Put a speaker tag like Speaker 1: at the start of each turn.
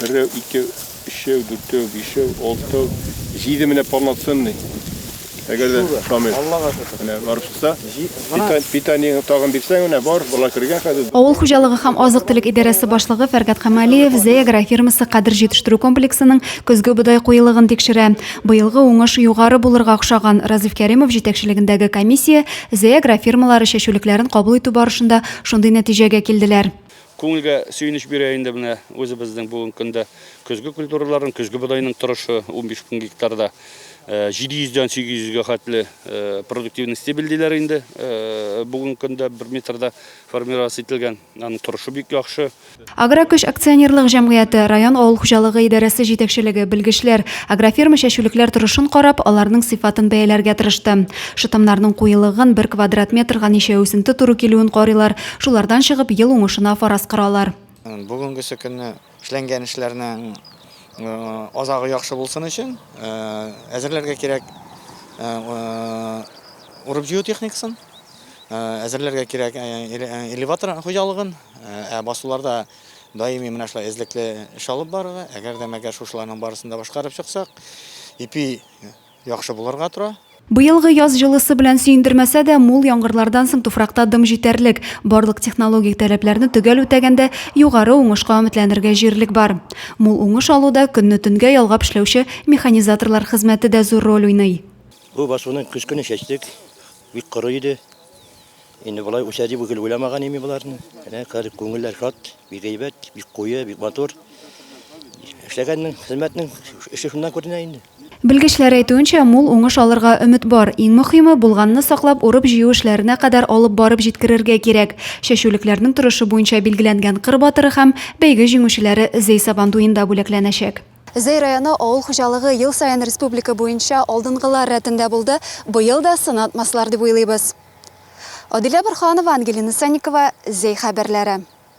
Speaker 1: Берәү, икәү, өчәү, дүртәү, бишәү, алтау, җиде менә полноценный. Әгәр дә Шамил. Аллага шөкер. Менә
Speaker 2: барып чыкса,
Speaker 1: питание тагын бирсәң, менә бар, бала кергән хәзер. Авыл хуҗалыгы һәм
Speaker 3: азык-төлек идарәсе башлыгы Фәргать Камалиев Зәй агрофирмасы Кадер җитештерү комплексының көзге бодай куелыгын тикшерә. Быелгы уңыш югары булырга охшаган. Разиф Кәримов җитәкчелегендәге комиссия Зәй агрофирмалары чәчүлекләрен кабул итү барышында шундый нәтиҗәгә килделәр. Күңелгә
Speaker 4: сөенеч бирә инде менә үзебезнең бүгенге көндә көзге культураларның, көзге бодайның торышы, унбиш мең гектарда 700 дән 800 гә хәтле продуктивный стебель диләр инде. Бүгенге көндә бер метрда формироваться ителгән, аның торышы бик яхшы. Агрокөч
Speaker 3: акционерлык җәмгыяте, район авыл хуҗалыгы идарәсе җитәкчелеге, белгечләр, агрофирма чәчүлекләр торышын карап, аларның сыйфатын бәяләргә тырышты. Шытымнарның куелыгын, бер квадрат метрга ничә үсенте туры килүен карыйлар, Шулардан чыгып, ел уңышына фараз коралар. Бүгенгесе
Speaker 2: көнне эшләнгән эшләрнең азагы яхшы булсын өчен әзерләргә кирәк урып-җыю техникасын, әзерләргә кирәк элеватор хуҗалыгын, ә басуларда даими менә шулай эзлекле эш алып барырга. Әгәр дә мәгәр шушыларның барысын да башкарып чыксак, ипи Яхшы булырга тора. Быелгы яз
Speaker 3: җылысы белән сөендермәсә дә, мул яңгырлардан соң туфракта дым җитәрлек. Барлык технологик таләпләрне төгәл үтәгәндә, югары уңышка өметләнергә җирлек бар. Мул уңыш алуда көнне төнгә ялгап эшләүче механизаторлар хезмәте дә зур роль уйный. Бу басуны
Speaker 5: көз көне чәчтек, бик коры иде. Инде болай үсә дип гел уйламаган ими боларны. Менә карык күңелләр шат, бик әйбәт, бик куе, бик матур. Эшләгәннең, хезмәтнең эше шуннан күренә инде. Белгечләр әйтүенчә,
Speaker 3: мул уңыш алырга өмет бар. Иң мөхиме, булганны саклап, урып-җыю эшләренә кадәр алып барып җиткерергә кирәк. Чәчүлекләрнең торышы буенча билгеләнгән кыр батыры һәм бәйге җиңүчеләре Зәй Сабантуенда бүләкләнәчәк. Зәй районы авыл хуҗалыгы ел саен республика буенча алдынгылар рәтендә булды, быел да сынатмаслар дип уйлыйбыз. Адилә Борһанова, Ангелина Санникова, Зәй хәбәрләре.